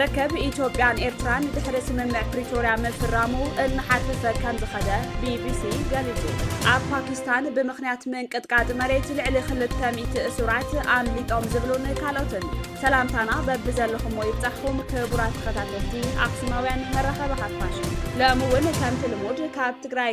ርክብ ኢትዮጵያን ኤርትራን ድሕሪ ስምምዕ ፕሪቶርያ ምፍራሙ እናሓርፈፈ ከም ዝኸደ ቢቢሲ ገሊጹ። ኣብ ፓኪስታን ብምኽንያት ምንቅጥቃጥ መሬት ልዕሊ ክልተ ሚእቲ እሱራት ኣምሊጦም ዝብሉን ካልኦትን። ሰላምታና በብዘለኹሞ ይብጻሕኹም ክቡራት ተኸታተልቲ ኣክሱማውያን መራኸቢ ሓፋሽ። ሎሚ እውን ከምቲ ልሙድ ካብ ትግራይ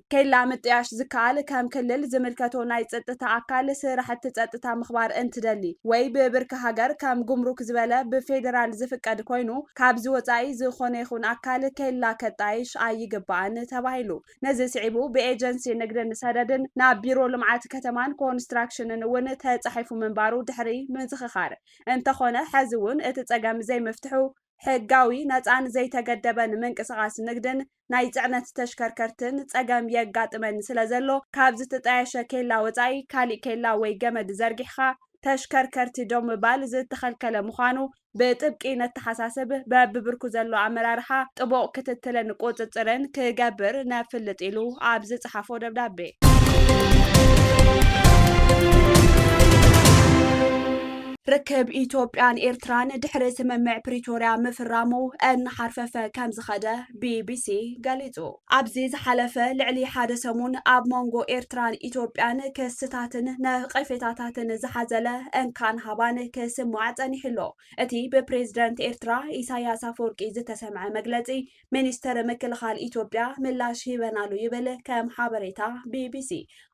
ኬላ ምጥያሽ ዝከኣል ከም ክልል ዝምልከቶ ናይ ፅጥታ ኣካል ስራሕቲ ፀጥታ ምኽባር እንትደሊ ወይ ብብርኪ ሃገር ከም ጉምሩክ ዝበለ ብፌዴራል ዝፍቀድ ኮይኑ ካብዚ ወፃኢ ዝኾነ ይኹን ኣካል ኬላ ከጣይሽ ኣይግባእን ተባሂሉ። ነዚ ስዒቡ ብኤጀንሲ ንግድን ሰደድን ናብ ቢሮ ልምዓት ከተማን ኮንስትራክሽንን እውን ተፃሒፉ ምንባሩ ድሕሪ ምዝኽኻር እንተኾነ ሐዚ እውን እቲ ፀገም ዘይምፍትሑ ሕጋዊ፣ ነፃን ዘይተገደበን ምንቅስቓስ ንግድን ናይ ፅዕነት ተሽከርከርትን ፀገም የጋጥመኒ ስለዘሎ ካብ ዝትጣየሸ ኬላ ወፃኢ ካሊእ ኬላ ወይ ገመድ ዘርጊሕኻ ተሽከርከርቲ ደው ምባል ዝተኸልከለ ምዃኑ ብጥብቂ ነተሓሳስብ፣ በቢብርኩ ዘሎ ኣመራርሓ ጥቡቕ ክትትልን ቁፅፅርን ክገብር ነፍልጥ ኢሉ ኣብ ዝፀሓፎ ደብዳቤ። ርክብ ኢትዮጵያን ኤርትራን ድሕሪ ስምምዕ ፕሪቶርያ ምፍራሙ እናሓርፈፈ ከም ዝኸደ ቢቢሲ ገሊጹ። ኣብዚ ዝሓለፈ ልዕሊ ሓደ ሰሙን ኣብ መንጎ ኤርትራን ኢትዮጵያን ክስታትን ነቐፌታታትን ዝሓዘለ እንካን ሃባን ክስማዕ ጸኒሑ'ሎ። እቲ ብፕሬዝደንት ኤርትራ ኢሳያስ ኣፈወርቂ ዝተሰምዐ መግለጺ ሚኒስተር ምክልኻል ኢትዮጵያ ምላሽ ሂበን ኣሉ ይብል ከም ሓበሬታ ቢቢሲ።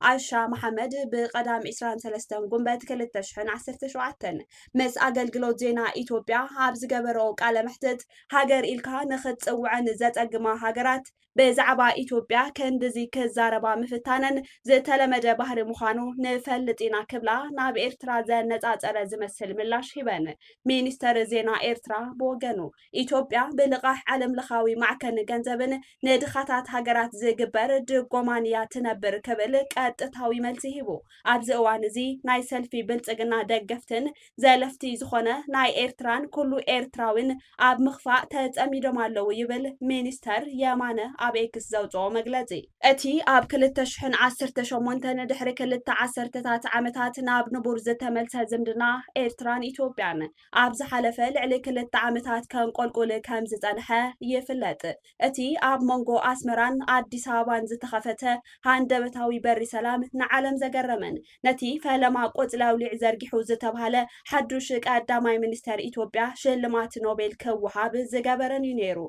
ኣይሻ መሓመድ ብቀዳም ዕስራን ሰለስተን ጉንበት ክልተ ሽሕን ዓሰርተ ሸውዓተን ምስ ኣገልግሎት ዜና ኢትዮጵያ ኣብ ዝገበረኦ ቃለ መሕትት ሃገር ኢልካ ንክትጽውዐን ዘጸግማ ሃገራት ብዛዕባ ኢትዮጵያ ክንድዚ ክዛረባ ምፍታነን ዝተለመደ ባህሪ ምዃኑ ንፈልጥ ኢና ክብላ ናብ ኤርትራ ዘነጻጸረ ዝመስል ምላሽ ሂበን። ሚኒስተር ዜና ኤርትራ ብወገኑ ኢትዮጵያ ብልቓሕ ዓለም ለኻዊ ማዕከን ገንዘብን ንድኻታት ሃገራት ዝግበር ድጎማን እያ ትነብር ክብል ቀጥታዊ መልሲ ሂቡ። ኣብዚ እዋን እዚ ናይ ሰልፊ ብልጽግና ደገፍትን ዘለፍቲ ዝኾነ ናይ ኤርትራን ኩሉ ኤርትራዊን ኣብ ምኽፋእ ተጸሚዶም ኣለዉ ይብል ሚኒስተር የማነ ኣብ ኤክስ ዘውጽኦ መግለጺ። እቲ ኣብ ክልተ ሽሕን ዓሰርተ ሸሞንተን ድሕሪ ክልተ ዓሰርተታት ዓመታት ናብ ንቡር ዝተመልሰ ዝምድና ኤርትራን ኢትዮጵያን ኣብ ዝሓለፈ ልዕሊ ክልተ ዓመታት ከንቆልቁል ከም ዝጸንሐ ይፍለጥ። እቲ ኣብ መንጎ ኣስመራን ኣዲስ ኣበባን ዝተኸፈተ ሃንደበታዊ በሪ ሰላም ንዓለም ዘገረመን ነቲ ፈለማ ቆጽሊ ኣውሊዕ ዘርጊሑ ዝተብሃለ ሓዱሽ ቀዳማይ ሚኒስተር ኢትዮጵያ ሽልማት ኖቤል ክወሃብ ዝገበረን እዩ ነይሩ።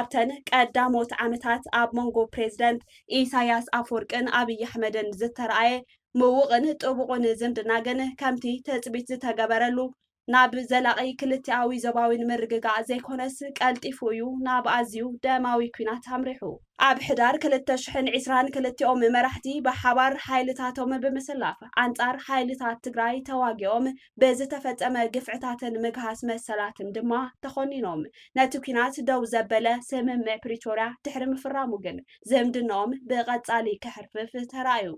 ኣብተን ቀዳሞት ዓመታት ኣብ መንጎ ፕሬዝደንት ኢሳይያስ ኣፍወርቅን ኣብይ ኣሕመድን ዝተርኣየ ምዉቕን ጥቡቑን ዝምድና ግን ከምቲ ትጽቢት ዝተገበረሉ ናብ ዘላቒ ክልቲኣዊ ዞባዊን ምርግጋእ ዘይኮነስ ቀልጢፉ እዩ ናብ ኣዝዩ ደማዊ ኲናት ኣምሪሑ። ኣብ ሕዳር ክልተ ሽሕን ዒስራን ክልቲኦም መራሕቲ ብሓባር ሓይልታቶም ብምስላፍ ኣንጻር ሓይልታት ትግራይ ተዋጊኦም ብዝተፈጸመ ግፍዕታትን ምግሃስ መሰላትን ድማ ተኾኒኖም። ነቲ ኲናት ደው ዘበለ ስምምዕ ፕሪቶርያ ድሕሪ ምፍራሙ ግን ዝምድነኦም ብቐጻሊ ከሕርፍፍ ተራእዩ።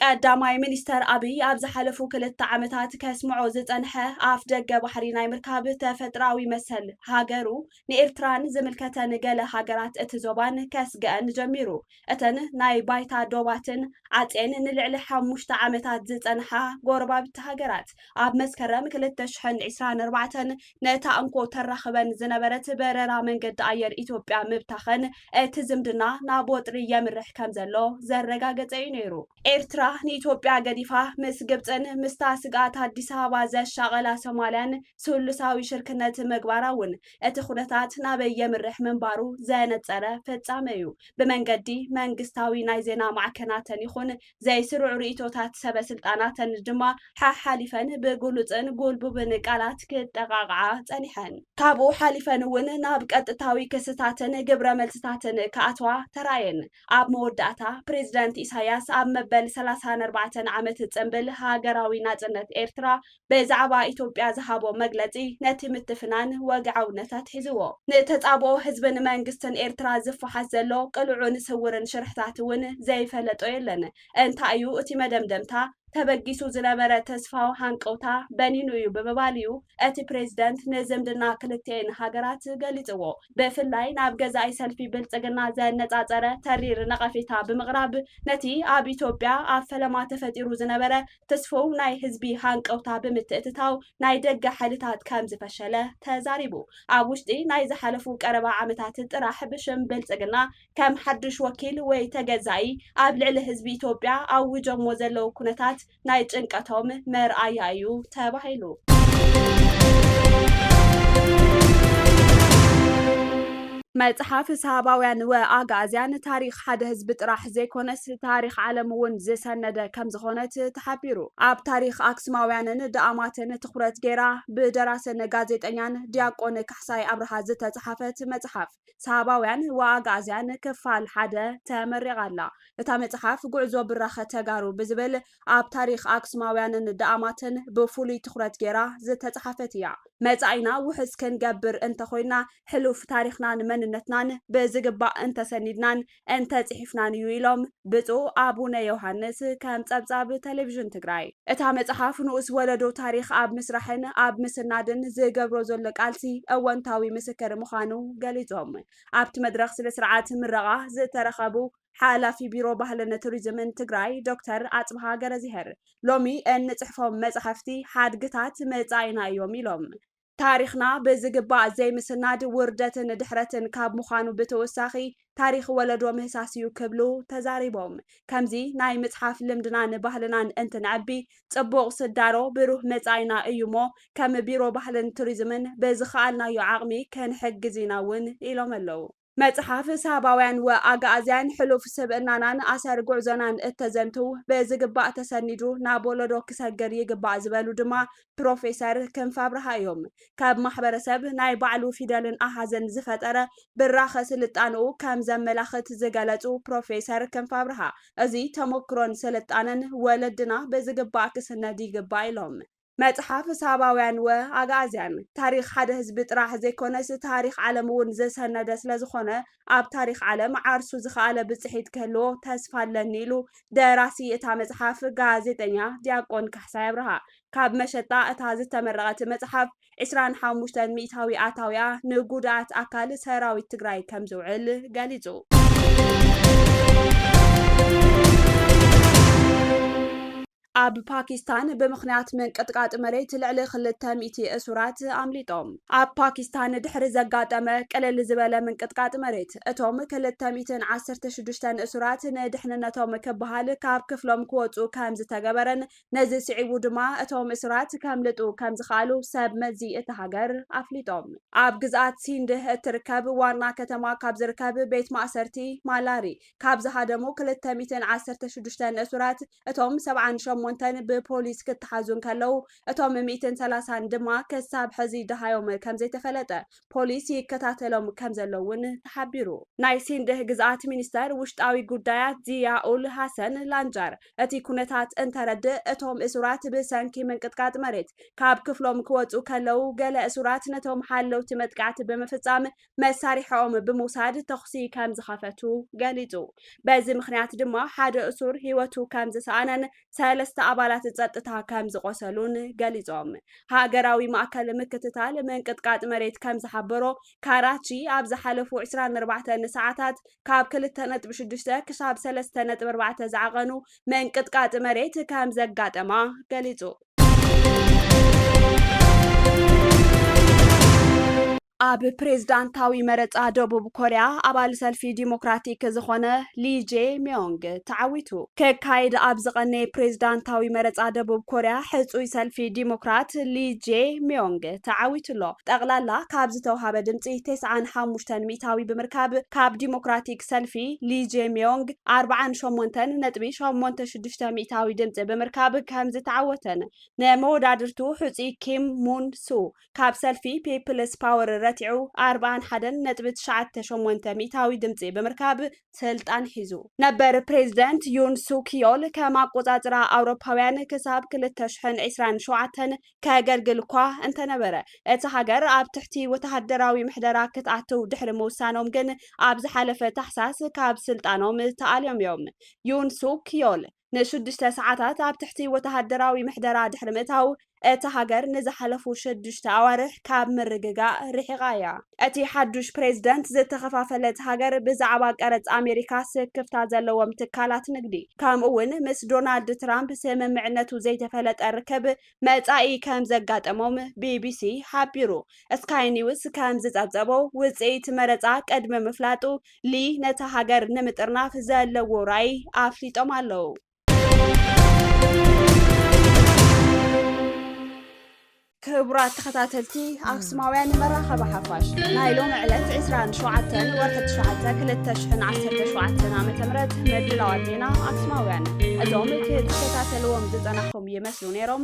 ቀዳማይ ሚኒስተር ኣብይ ኣብ ዝሓለፉ ክልተ ዓመታት ከስምዖ ዝጸንሐ ኣፍ ደገ ባሕሪ ናይ ምርካብ ተፈጥሮኣዊ መሰል ሃገሩ ንኤርትራን ዝምልከተን ገለ ሃገራት እቲ ዞባን ከስግኣን ጀሚሩ። እተን ናይ ባይታ ዶባትን ዓጽየን ንልዕሊ ሓሙሽተ ዓመታት ዝጸንሓ ጎረባብቲ ሃገራት ኣብ መስከረም ክልተ ሽሕን ዒስራን ኣርባዕተን ነታ እንኮ ተራኽበን ዝነበረት በረራ መንገዲ ኣየር ኢትዮጵያ ምብታኸን እቲ ዝምድና ናብ ወጥሪ የምርሕ ከምዘሎ ዘረጋገጸ'ዩ ነይሩ። ኤርትራ ንኢትዮጵያ ገዲፋ ምስ ግብጽን ምስታ ስግኣት ኣዲስ ኣበባ ዘሻቐላ ሶማልያን ስሉሳዊ ሽርክነት ምግባራ'ውን እቲ ኩነታት ናበይ የምርሕ ምንባሩ ዘነጸረ ፍጻመ'ዩ። ብመንገዲ መንግስታዊ ናይ ዜና ማዕከናተን ይኹን ዘይስሩዕ ርእይቶታት ሰበ ስልጣናተን ድማ ሓሓሊፈን ብግሉጽን ጉልቡብን ቃላት ክጠቓቕዓ ጸኒሐን። ካብኡ ሓሊፈን እውን ናብ ቀጥታዊ ክስታትን ግብረ መልስታትን ክኣትዋ ተራእየን። ኣብ መወዳእታ፣ ፕሬዚደንት ኢሳያስ ኣብ መበል ሰላሳን ኣርባዕተን ዓመት ጽንብል ሃገራዊ ናጽነት ኤርትራ ብዛዕባ ኢትዮጵያ ዝሃቦ መግለጺ ነቲ ምትፍናን ወግዓውነት ኣትሒዝዎ። ንተጻብኦ ህዝብን መንግስትን ኤርትራ ዝፋሓስ ዘሎ ቅሉዕን ስውርን ሽርሕታት እውን ዘይፈለጦ የለን። እንታይ እዩ እቲ መደምደምታ? ተበጊሱ ዝነበረ ተስፋዊ ሃንቀውታ በኒኑ እዩ ብምባል እዩ እቲ ፕሬዚደንት ንዝምድና ክልቲኤን ሃገራት ገሊጽዎ። ብፍላይ ናብ ገዛኢ ሰልፊ ብልጽግና ዘነጻጸረ ተሪር ነቐፌታ ብምቕራብ ነቲ ኣብ ኢትዮጵያ ኣብ ፈለማ ተፈጢሩ ዝነበረ ትስፉው ናይ ህዝቢ ሃንቀውታ ብምትእትታው ናይ ደገ ሓይልታት ከም ዝፈሸለ ተዛሪቡ። ኣብ ውሽጢ ናይ ዝሓለፉ ቀረባ ዓመታት ጥራሕ ብሽም ብልጽግና ከም ሓድሽ ወኪል ወይ ተገዛኢ ኣብ ልዕሊ ህዝቢ ኢትዮጵያ ኣዊጆሞ ዘለዉ ኩነታት ናይ ጭንቀቶም መርኣያ እዩ ተባሂሉ። መጽሓፍ ሳባውያን ወኣግኣዝያን ታሪኽ ሓደ ህዝቢ ጥራሕ! ጥራሕ ዘይኮነስ ታሪኽ ዓለም እውን ዝሰነደ ከምዝኾነት ተሓቢሩ። ኣብ ታሪኽ ኣክሱማውያንን ደኣማትን ትኹረት ገይራ ብደራስን ጋዜጠኛን ዲያቆን ካሕሳይ ኣብርሃ ዝተፅሓፈት መፅሓፍ ሳባውያን ወኣግኣዝያን ክፋል ሓደ ተመሪቓ ኣላ። እታ መፅሓፍ ጉዕዞ ብራኸ ተጋሩ ብዝብል ኣብ ታሪኽ ኣክሱማውያንን ደኣማትን ብፍሉይ ትኹረት ገይራ ዝተፅሓፈት እያ። መፃኢና ውሕስ ክንገብር እንተኾይንና ሕሉፍ ታሪኽናን መንነትናን ብዝግባእ እንተሰኒድናን እንተ ጽሒፍናን እዩ ኢሎም ብፁዕ ኣቡነ ዮሃንስ ከም ጸብጻብ ተሌቪዥን ትግራይ። እታ መጽሓፍ ንኡስ ወለዶ ታሪኽ ኣብ ምስራሕን ኣብ ምስናድን ዝገብሮ ዘሎ ቃልሲ እወንታዊ ምስክር ምዃኑ ገሊጾም። ኣብቲ መድረኽ ስነ ስርዓት ምረቓ ዝተረኸቡ ሓላፊ ቢሮ ባህልን ቱሪዝምን ትግራይ ዶክተር ኣፅብሃ ገረዝሄር ሎሚ እንፅሕፎም መፃሕፍቲ ሓድግታት መፃኢና እዮም ኢሎም። ታሪኽና ብዝግባእ ዘይምስናድ ውርደትን ድሕረትን ካብ ምዃኑ ብተወሳኺ ታሪኽ ወለዶ ምህሳስ እዩ ክብሉ ተዛሪቦም። ከምዚ ናይ ምፅሓፍ ልምድናን ባህልናን እንትነዕቢ ፅቡቕ ስዳሮ ብሩህ መፃኢና እዩ እሞ ከም ቢሮ ባህልን ቱሪዝምን ብዝኸኣልናዮ ዓቕሚ ክንሕግዝ ኢና እውን ኢሎም ኣለው። መጽሓፍ ሳባውያን ወኣጋኣዝያን ሕሉፍ ስብእናናን ኣሰር ጉዕዞናን እተዘንትው ብዝግባእ ተሰኒዱ ናብ ወለዶ ክሰግር ይግባእ ዝበሉ ድማ ፕሮፌሰር ክንፈኣብርሃ እዮም። ካብ ማሕበረሰብ ናይ ባዕሉ ፊደልን ኣሃዝን ዝፈጠረ ብራኸ ስልጣነኡ ከም ዘመላኽት ዝገለጹ ፕሮፌሰር ክንፈኣብርሃ እዚ ተሞክሮን ስልጣነን ወለድና ብዝግባእ ክስነድ ይግባእ ኢሎም። መጽሓፍ ሳባውያን ወ ኣግኣዝያን፣ ታሪኽ ሓደ ህዝቢ ጥራሕ ዘይኮነስ ታሪኽ ዓለም እውን ዝሰነደ ስለዝኾነ ኣብ ታሪኽ ዓለም ዓርሱ ዝኸኣለ ብጽሒት ክህልዎ ተስፋ ኣለኒ ኢሉ ደራሲ እታ መጽሓፍ ጋዜጠኛ ዲያቆን ካሕሳይ ኣብርሃ። ካብ መሸጣ እታ ዝተመረቐት መጽሓፍ ዕስራን ሓሙሽተን ሚእታዊ ኣታዊኣ ንጉድኣት ኣካል ሰራዊት ትግራይ ከምዝውዕል ገሊጹ። ኣብ ፓኪስታን ብምኽንያት ምንቅጥቃጥ መሬት ልዕሊ ክልተ ሚእቲ እሱራት ኣምሊጦም። ኣብ ፓኪስታን ድሕሪ ዘጋጠመ ቅልል ዝበለ ምንቅጥቃጥ መሬት፣ እቶም ክልተ ሚእትን ዓሰርተ ሽዱሽተን እሱራት ንድሕንነቶም ክበሃል ካብ ክፍሎም ክወጽኡ ከምዝተገበረን ነዚ ስዒቡ ድማ እቶም እሱራት ከምልጡ ከምዝኸኣሉ ሰብ መዚ እታ ሃገር ኣፍሊጦም። ኣብ ግዝኣት ሲንድ እትርከብ ዋና ከተማ ካብ ዝርከብ ቤት ማእሰርቲ ማላሪ ካብ ዝሃደሙ ክልተ ሚእትን ዓሰርተ ሽዱሽተን እሱራት፣ እቶም ሰብዓን ሸሞንተን ብፖሊስ ክተሓዙ እንከለዉ እቶም ሚእትን ሰላሳን ድማ ክሳብ ሕዚ ደሃዮም ከምዘይተፈለጠ ፖሊስ ይከታተሎም ከምዘሎ እውን ተሓቢሩ። ናይ ሲንድህ ግዝኣት ሚኒስተር ውሽጣዊ ጉዳያት ዚያ ኡል ሃሰን ላንጃር እቲ ኩነታት እንተረድእ እቶም እሱራት ብሰንኪ ምንቅጥቃጥ መሬት ካብ ክፍሎም ክወጹ ከለዉ ገለ እሱራት ነቶም ሓለውቲ መጥቃዕቲ ብምፍጻም መሳርሒኦም ብምውሳድ ተኹሲ ከም ዝኸፈቱ ገሊጹ። በዚ ምኽንያት ድማ ሓደ እሱር ህይወቱ ከም ዝሰኣነን ሰለስተ ኣባላት ጸጥታ ከም ዝቖሰሉን ገሊጾም። ሃገራዊ ማእከል ምክትታል ምንቅጥቃጥ መሬት ከም ዝሓበሮ፣ ካራቺ ኣብ ዝሓለፉ ዕስራን ኣርባዕተን ሰዓታት ካብ ክልተ ነጥቢ ሽዱሽተ ክሳብ ሰለስተ ነጥቢ ኣርባዕተ ዝዓቐኑ ምንቅጥቃጥ መሬት ከም ዘጋጠማ ገሊጹ። ኣብ ፕሬዝዳንታዊ መረፃ ደቡብ ኮርያ ኣባል ሰልፊ ዲሞክራቲክ ዝኾነ ሊ ጄ ሚዮንግ ተዓዊቱ። ከካይድ ኣብ ዝቐነየ ፕሬዝዳንታዊ መረፃ ደቡብ ኮርያ ሕፁይ ሰልፊ ዲሞክራት ሊ ጄ ሚዮንግ ተዓዊቱ ኣሎ። ጠቕላላ ካብ ዝተውሃበ ድምፂ ቴስዓን ሓሙሽተን ሚእታዊ ብምርካብ ካብ ዲሞክራቲክ ሰልፊ ሊ ጄ ሚዮንግ ኣርብዓን ሸሞንተን ነጥቢ ሸሞንተ ሽዱሽተ ሚእታዊ ድምፂ ብምርካብ ከምዝተዓወተን ንመወዳድርቱ ሕፁይ ኪም ሙን ሱክ ካብ ሰልፊ ፒፕልስ ፓወር ረቲዑ ኣርብዓን ሓደን ነጥቢ ትሽዓተ ሸሞንተ ሚእታዊ ድምፂ ብምርካብ ስልጣን ሒዙ። ነበር ፕሬዝደንት ዩን ሱክ ዮል ከም ኣቆፃፅራ ኣውሮፓውያን ክሳብ ክልተ ሽሕን ዒስራን ሸውዓተን ከገልግል እኳ እንተነበረ እታ ሃገር ኣብ ትሕቲ ወተሃደራዊ ምሕደራ ክትኣትው ድሕሪ ምውሳኖም ግን ኣብ ዝሓለፈ ታሕሳስ ካብ ስልጣኖም ተኣልዮም እዮም። ዩን ሱክ ዮል ንሽዱሽተ ሰዓታት ኣብ ትሕቲ ወተሃደራዊ ምሕደራ ድሕሪ ምእታው፣ እታ ሃገር ንዝሓለፉ ሽዱሽተ ኣዋርሕ ካብ ምርግጋእ ርሒቓ እያ። እቲ ሓዱሽ ፕሬዝደንት ዝተኸፋፈለት ሃገር ብዛዕባ ቀረጽ ኣሜሪካ ስክፍታ ዘለዎም ትካላት ንግዲ ከምኡ ውን ምስ ዶናልድ ትራምፕ ስምምዕነቱ ዘይተፈለጠ ርክብ መጻኢ ከምዘጋጠሞም ቢቢሲ ሓቢሩ። ስካይ ኒውስ ከምዝጸብጸቦ ውጽኢት መረጻ ቅድሚ ምፍላጡ ሊ ነታ ሃገር ንምጥርናፍ ዘለዎ ራእይ ኣፍሊጦም ኣለዉ። ክቡራት ተኸታተልቲ ኣክሱማውያን መራኸቢ ሓፋሽ ናይ ሎሚ ዕለት 27 ወርሒ 9 2017 ዓ ም ምድላዋት ዜና ኣክሱማውያን እዞም ክትከታተልዎም ዝፀናኹም ይመስሉ ነይሮም